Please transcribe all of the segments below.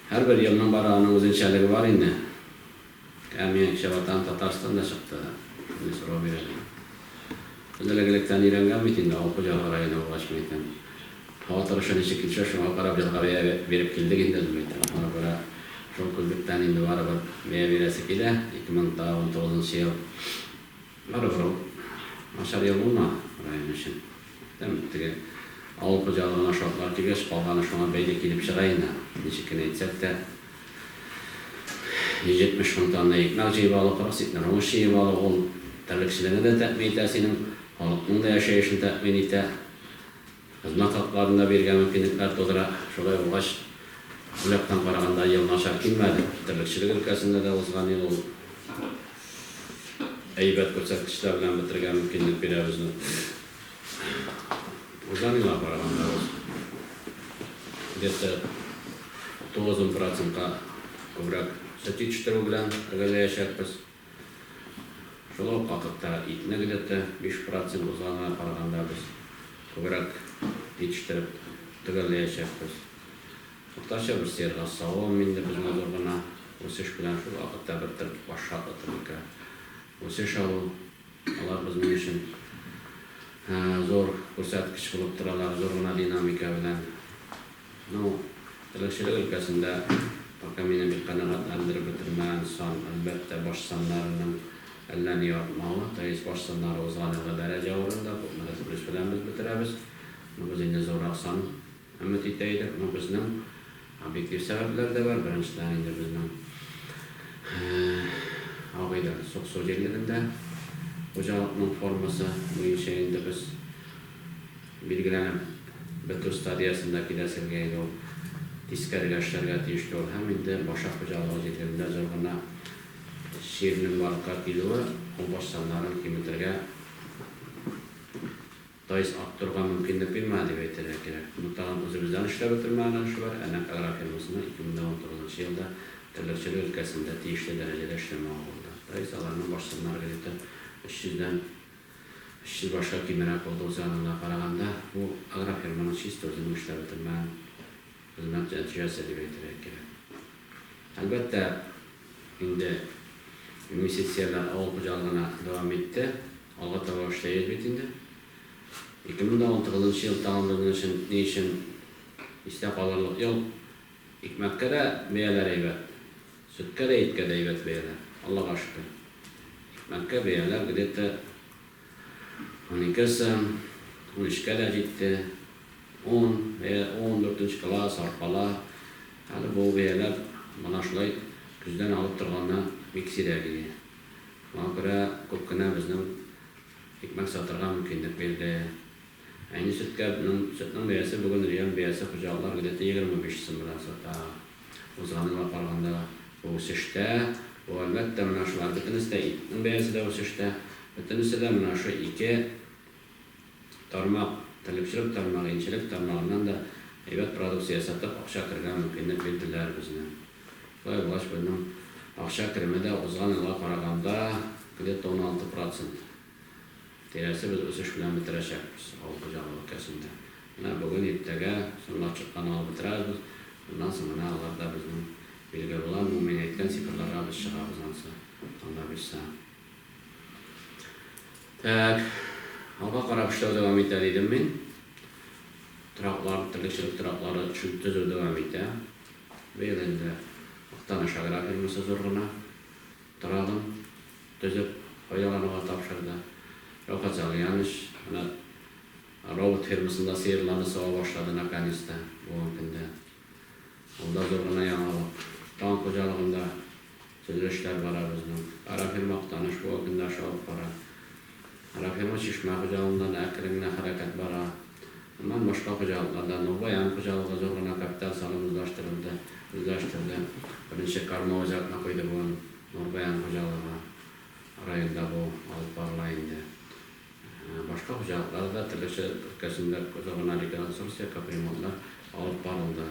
Һәрбер елның бары аның үзенчәлеге бар инде. Ә миңа кичә Ватаным Татарстан да чыкты. Мине сорау бирәләр. Без элек электән өйрәнгән бит инде, авыл хуҗалыгы районы булгач, мин әйтәм. Һава торышы ничек килсә, шуңа карап язга бәя биреп килдек инде без, әйтәм. Аны күрә шул күзлектән инде барыбер бәя бирәсе килә. 2019 ел барыбер ул начар ел булмады район өчен. Күптән теге авыл хуҗалыгына шартлар тигәч, калганы шуңа бәйле килеп чыга инде. Ничек кенә итсәк тә, 170 мең тонна икмәк җыеп алу, 40 центнер уңыш җыеп алу, ул терлекчелекне дә тәэмин итә синең, халыкның да яшәешен тәэмин итә, хезмәт хакларын да бирергә мөмкинлекләр тудыра. Шулай булгач, ул яктан караганда ел начар килмәде. Терлекчелек өлкәсендә дә узган ел ул әйбәт күрсәткечләр белән бетергә мөмкинлек бирә безне. Узанына караганда ул где-то 90 процентка күбрәк сөт җитештерү белән төгәлләячәкбез. Шул ук вакытта итне где-то 5 процент узганына караганда без күбрәк җитештереп төгәлләячәкбез. Уртача бер сыерга савым инде безне зур гына үсеш белән шул вакытта бер тел баш шартлы тәмәке үсеш алу, алар безнең өчен зур күрсәткеч булып торалар, зур гына динамика белән. Ну, терлекчелек өлкәсендә пока мине бик канәгатьләндереп бетермәгән сан, әлбәттә, баш саннарының әллә ни артмавы, то есть баш саннары узган елгы дәрәҗә урында, күпмедер плюс белән без бетерәбез. Ну, без инде зуррак сан. Өмет итә идек, но безнең объектив сәбәпләр дә бар. Беренчедән инде безнең абый да Суксу җирлегендә хуҗалыкның формасы буенча инде без билгеләнеп бетү стадиясендә киләселгә иде ул. Тискәрегә эшләргә тиешле ул һәм инде башы хуҗалыгы җирлегендә зур гына чирнең барлыкка килүе ул баш саннарын киметергә Тайз ак торырга мөмкинлек бирмә, дип әйтергә кирәк. Моны тагын үзебездән эшләп бетермәгән өлеше бар, ә нәкъ Агра фирмасының 2019 елда терлекчелек өлкәсендә тиешле дәрәҗәдә эшләмәве булды. Тайз Аграның башсаннар кредиты 300 дән 300 башка кимерәк булды, үз ягыннан караганда, бу Агра фирманың чиста үзенең эшләп бетермәгән хезмәт нәтиҗәсе, дип әйтергә кирәк. Әлбәттә, инде инвестицияләр авыл хуҗалыгына дәвам итте. Алга таба эшләйбез бит инде. 2019 нчы ел тагын бер минөчен ни өчен истә калырлык ел? Икмәккә дә бәяләр әйбәт, сөткә дә, иткә дә әйбәт бәяләр, Аллага шөкер. Икмәккә бәяләр где-то унике сым, унөчкә дә җитте. Он, бәя, он, дүртенче класс, арпалар. Хәзер бу бәяләр менә шулай көздән алып торганнан бик сирәк иде. Моңа күрә күп кенә безнең икмәк сатырга мөмкинлек бирде. Әйни сөткә ның сөтнең бәясе бүген район бәясе хуҗалыклар гдете егерме биш сум белән сата. Узган елга караганда бу үсештә, бу әлбәттә менә шулар бөтенесе дә итнең бәясе дә үсештә, бөтенесе дә менә шул ике тармак, терлекчелек тармагы, инчелек тармагыннан да әйбәт продукция ясатып акча кергән мөмкинлек бирделәр безнең. Кытай власть белән акча кереме дә узган елга караганда где-то уналты процент тирәсе без үсеш белән бетерәчәкбез авыл хуҗалыгы өлкәсендә. Менә бүген, иртәгә соңга чыккан алып бетерәбез, моннан соң менә алар да безнең билгә була, бу мин әйткән цифрларга без чыгабыз ансы Алла бирсә. Так, алга карап эшләү дәвам итә дидем мин. Тораклар, терлекчелек тораклары төзү дәвам итә. Быел инде Актаныш агрофирмасы зур гына торагын төзеп файдалануга тапшырды. Рәүфәт Залиянович менә робот фермасында сыерларны сава башлады наконец-то, булган көндә. Ул да зур гына яңалык. Тагын хуҗалыгында Төзелешләр бара безнең. Агрофирма Актаныш бу көнне аша алып бара. Агрофирма Чишмә хуҗалыгында да әкрен генә хәрәкәт бара. Аннан башка хуҗалыкларда Нурбаян хуҗалыгы зур гына капиталь салым үзлаштырылды, үзләштерде. Беренче кормовой зертны куйды бүген Нурбаян хуҗалыгы. Районда бу алып барыла инде. Башка хуҗалыкларда да төрлечә өлкәсендә зона реконструкция, капремонтлар алып барылды.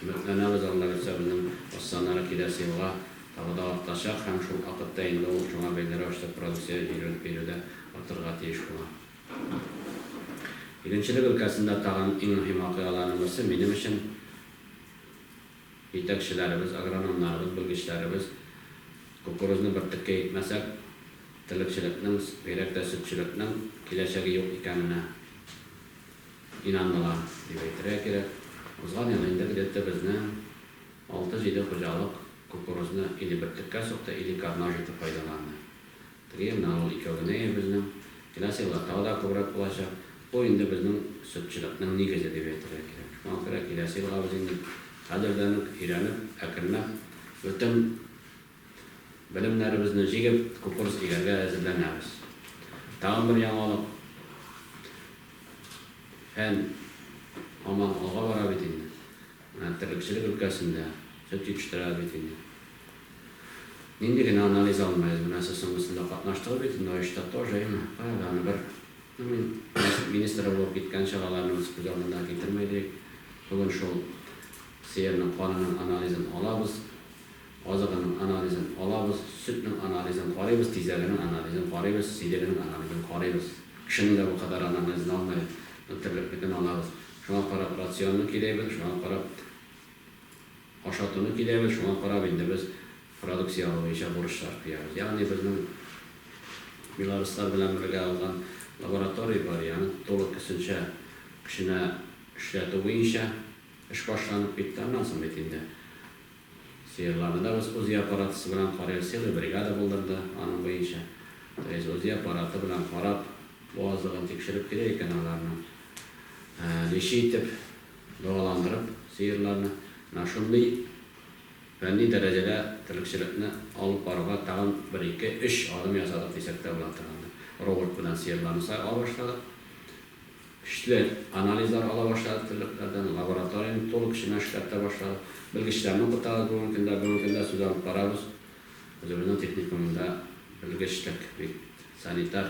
Өметләнәбез, Аллабирса безнең останара киләсе елга тагы да артачак һәм шул акытта инде ул шуңа бәйле рәвештә продукция җирел бирү дә артырга тиеш була. Игенчелек өлкәсендә тагын иң мөһим вакыйгаларның берсе, минем өчен, Җитәкчеләребез, агрономнарыбыз, белгечләребез, кукурузны бер теккә икмәсәк, терлекчелекнең, бигрәк тә сөтчелекнең киләчәге юк икәненә инандылар, дип әйтергә кирәк. Узган ел инде где-то безнең алты-җиде хуҗалык кукурузны или бер теккә сукты, или кармак итеп файдаланды. Кремль авыл икәү генә ир безнең. Киләсе елга тагы да күбрәк булачак. Бу инде безнең сөтчеләкнең нигезе дип әйтергә кирәк. Шуңа күрә киләсе елга без инде хәзердән үк өйрәнеп, әкренләп бөтен белемнәребезне җигеп, кукурс игәргә әзерләнәбез. Тагын бер яңалык, фән һаман алга бара бит инде. Менә терлекчелек өлкәсендә, сөт җитештерәбез бит инде. Нинди генә анализ алмыйыз, менә сез соң өстендә катнаштыгыз бит инде оешта тоже, әйме, кая да аны бер, ну мин нәсел министры булып киткән чагаларны үз күз алдында китермәй диик, бүген шул сыерның канының анализын алабыз, азыгының анализын алабыз, сөтнең анализын карыйбыз, тизәгенең анализын карыйбыз, сидегенең анализын карыйбыз. Кешенең дә бу кадәр анализын алмыйбыз, но терлекнекен алабыз. Шуңа карап рационны киләйбез, шуңа карап. Ашатуны киләбез, шуңа карап инде без продукция алу буенча бурычлар куябыз. Ягъни безнең белоруслар белән бергә алган лаборатория бар, и аны тулы көсенчә көченә эшләтү буенча эш башланып китте, аннан соң бит инде сыерларны да без УЗИ аппаратысы белән карыйбыз, целый бригада булдырды аның буенча, то есть УЗИ аппараты белән карап, бу азыгын тикшереп кирәк икән аларның лечи итеп. Дәваландырып, сыерларны менә шундый фәнни дәрәҗәдә терлекчелекне алып баруга тагын бер ике, өч адым ясадык дисәк тә була торгандыр. Робот белән сыерларны сайлап башладык. Көчле анализлар ала башладык терлекләрдән. Лабораторияне тулы көченә эшләп тә башладык. Белгечләрне укытабыз бүгенге көндә. Бүгенге көндә сүз алып барабыз. Үзебезнең техникумда белгечлек бит, санитар.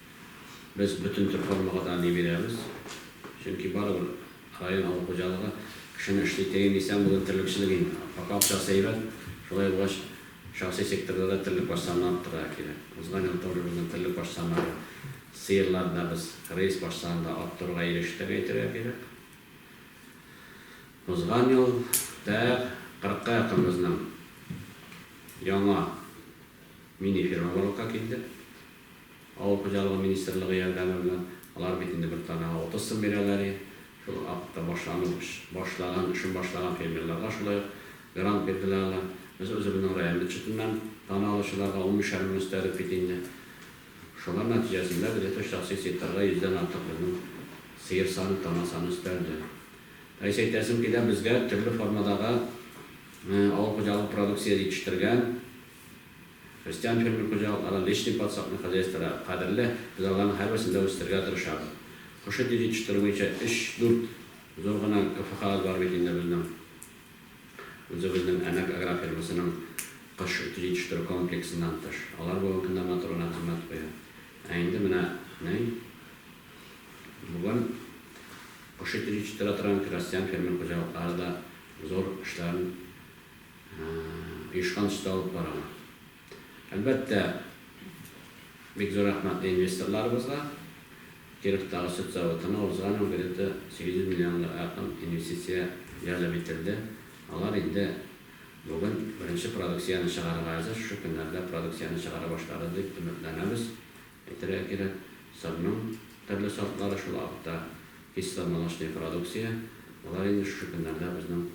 Без бөтен төр формага да ни бирәбез, чөнки барыбер район авыл хуҗалыгы кешене эшли тегин исән булыйм терлекчелек инде, пока акчасы әйбәт, шулай булгач шәхси секторда да терлек баш санын арттырырга кирәк, узган ел тоже безнең терлек баш саннары сыерлар да без рейс баш санын да арттыруга ирештек әйтергә кирәк, узган ел тәәк кырыкка якын безнең яңа мини фирма барлыкка килде, Авыл хуҗалыгы министрлыгы ярдәме белән, алар бит инде бер данага 30 сум бирәләр и, шул акта башлану башлаган, эшен башлаган фермерларга шулай ук грант бирделәр алар. Без үзебезнең район бюджетыннан дана алучыларга унбишәр мең өстәдек бит инде. Шулар нәтиҗәсендә безгә тышта сыйсыйктарга йөздән артык безнең сыер саны, дана саны өстәлде. Рәис, әйтәсем килә, безгә төрле формадагы авыл хуҗалыгы продукция җитештергән, Крестьян фермер хуҗалыклары личный подсадный хозяйстволар кадерле, без аларның һәрберсен дә үстерергә тырышабыз. Коши тиз җитештерү буенча өч-дүрт зур гына КФХабыз бар бит инде безнең. Үзебезнең Әнәк агрофирмасының кош ите җитештерү комплексыннан тыш. Алар бүгенге көндә матур гына хезмәт куя. Ә инде менә ни бүген кош ите җитештерә торган крестьян фермер хуҗалыклары да зур эшләрен оешкан төстә алып баралар. Әлбәттә, бик зур рәхмәт инвесторларыбызга. Кировтагы сөт заводына узган ел где-то 800 миллионга якын инвестиция җәлеп ителде. Алар инде бүген беренче продукцияне чыгарырга әзер, шушы көннәрдә продукцияне чыгара башларыз дип өметләнәбез. Әйтергә кирәк, сырның төрле сортлары, шул ук вакытта кисломолочный продукция, алар инде шушы көннәрдә безнең.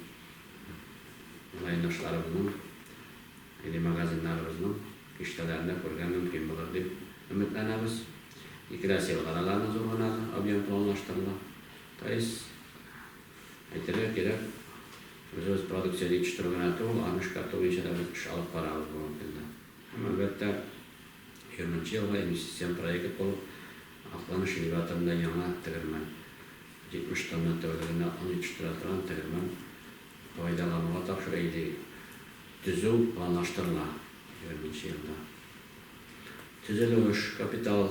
райондашларыбызның, милли магазиннарыбызның киштәләрендә күрергә мөмкин булыр дип өметләнәбез. Икеләс елгада да аны зур гына объем планлаштырыла. То есть, әйтергә кирәк, үзебез продукция җитештерү генә түгел, аны эшкәртү буенча да без эш алып барабыз бүгенге көндә. Һәм, әлбәттә, Херманчы елга инвестицион проект булып Акланыш элеваторында яңа тегермән, 70 тонна тәүлегенә он җитештерә торган тегермән, файдалануга тапшыру или төзү планлаштырыла. Егерменче елда төзелеш, капитал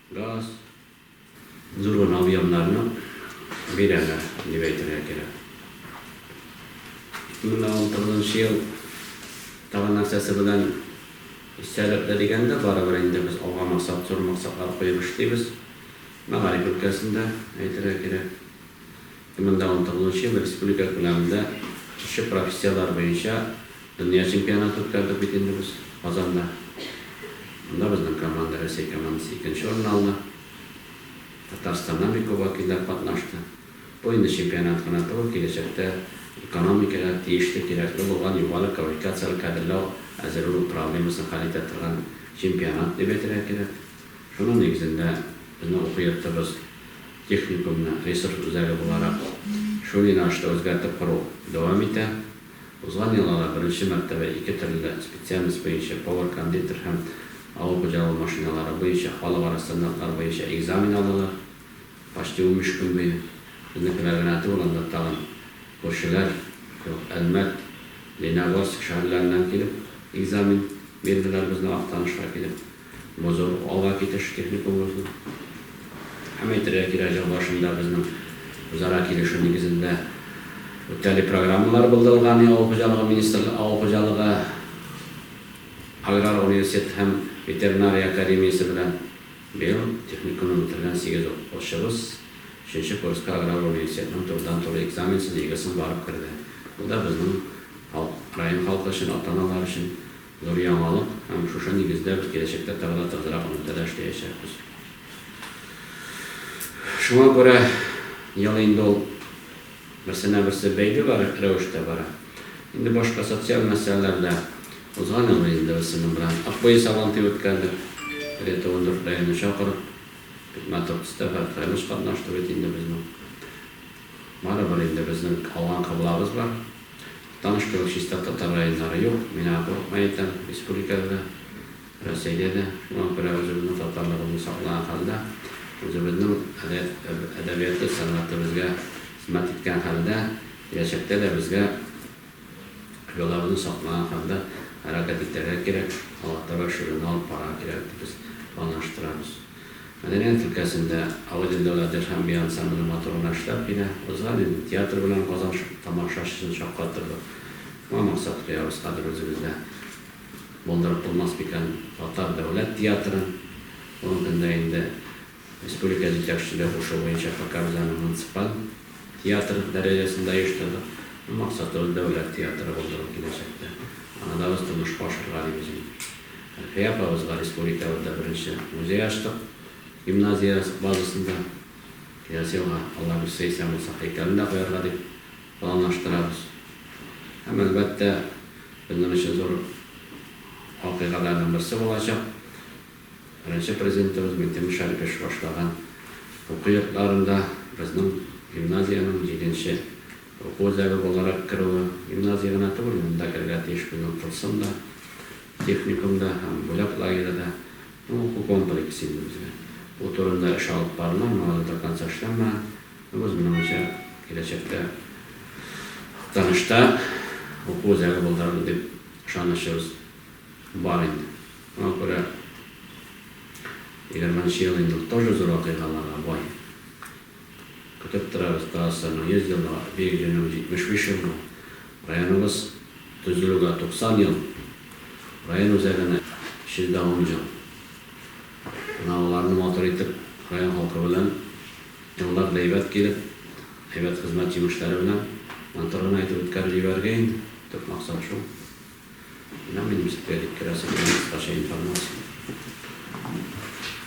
Газ, зур гына объемнарны бирәләр, дип әйтергә кирәк. Ике мең дә унтугызынчы ел тагын нәрсәсе белән истәлекле дигәндә, барыбер инде без алга максат, зур максатлар куеп эшлибез. Мәгариф өлкәсендә, әйтергә кирәк. Монда ундтыгызынчы ел республика күләмендә шушы профессияләр буенча дөнья чемпионаты үткәрдек бит инде без Казанда. Монда безнең команда, Рәсәй командасы икенче урынны алды. Татарстаннан бик күп вәкилләр катнашты. Бу инде чемпионат кына түгел, киләчәктә экономикага тиешле, кирәкле булган югары квалификацияле кадрлау әзерләү проблемасын хәл итә торган чемпионат дип әйтергә кирәк. Шуның нигезендә безнең уку йортыбыз техникумны ресурс үзәге буларак шул юнәлештә үзгәртеп кору дәвам итә. Узган ел алар беренче мәртәбә ике төрле специальность буенча, повар-кондитер һәм авыл хуҗалыгы машиналары буенча халыкара стандартлар буенча экзамен алдылар. Почти унбиш көн буе безнекеләр генә түгел, анда тагын күршеләр, Әлмәт, Лениногорск шәһәрләреннән килеп экзамен бирделәр безнең Актанышка килеп. Бозау ала китеш техникумыбызны һәм, әйтергә кирәк, ел башында безнең үзара килешү нигезендә үтәли программалар булдырылган, авыл хуҗалыгы министрлыгы, авыл хуҗалыгы аграр университеты һәм ветеринария академиясе белән. Быел техникумны бетергән сигез укучыбыз өченче курска аграр университетның турыдан-туры экзаменсыз, ЕГЭсын барып керде. Бу да безнең халык, район халкы өчен, ата-аналар өчен Зур яңалык, һәм шушы нигездә без киләчәктә тагы да тыгызрак элемтәдә эшләячәкбез. Шуңа күрә ел инде ул берсенә-берсе бәйле бар рәвештә бара. Инде башка социаль мәсьәләләр дә узган ел инде без сезнең белән Акбуе Сабантуе үткәрдек. Где-то ундүрт районны чакырып, бик матур төстә һәр кайлыш катнашты бит инде безнең. Барыбер инде безнең алган кыблабыз бар. Таныш кебек чиста татар районнары юк, мин аңа курыкмый әйтәм, республикада да, Рәсәйдә дә, шуңа күрә үзебезнең татарлыгыбызны саклаган хәлдә, үзебезнең әдәбияты, сәнгате безгә хезмәт иткән хәлдә, киләчәктә дә безгә йолабызны саклаган хәлдә хәрәкәт итәргә кирәк, алга таба эшләүне алып барырга кирәк дип без планлаштырабыз. Мәдәният өлкәсендә Авыдин дәүләт дирхәм би ансамбле матур гына эшләп килә. Узган инде. Театр белән Казан тамашачысын шаккаттырдык. Шуңа максат куябыз хәзер үзебездә. Булдырып булмас микән татар дәүләт театрын? Бүгенге көндә инде республика җитәкчелеге кушуы буенча ФК-Рузаның муниципаль. Театр дәрәҗәсендә оештырдык. Максатыбыз дәүләт театры булдыру киләчәктә. Аны да без тормышка ашырырга дибез инде. Әлфия апабызга республикабызда беренче музей ачтык, гимназия базасында. Киләсе елга, Алла бирсә, исән булсак, һәйкәлен дә куярга дип планлаштырабыз. Һәм, әлбәттә, безнең өчен зур вакыйгаларның берсе булачак, Беренче Президентыбыз Минтимер Шәрип эш башлаган уку йортларында безнең гимназиянең җиденче уку үзәге буларак керүе, гимназия гына түгел, монда керергә тиеш безнең курсым да, техникум да һәм бүләк лагере да, бу уку комплексы инде безгә. Бу турында эш алып барыла, моңа да до конца эшләнмәгән. Бу безнең уенча киләчәктә Актанышта уку үзәге булдырыр дип ышанычыбыз. Бар инде. Шуңа күрә егерменче ел инде ул тоже зур вакыйгаларга бай. Көтеп торабыз ТАССРның 100 еллыгы, бирешенү 75 еллыгы, районыбыз төзелүгә 90 ел, район үзәгенә 110 ел. Менә аларны матур итеп район халкы белән еллар да әйбәт килеп, әйбәт хезмәт җимешләре белән матур гына итеп үткәреп җибәрергә инде. Төп максат шул. Менә мин ничек тә җиткерәсе килә кыскача информация.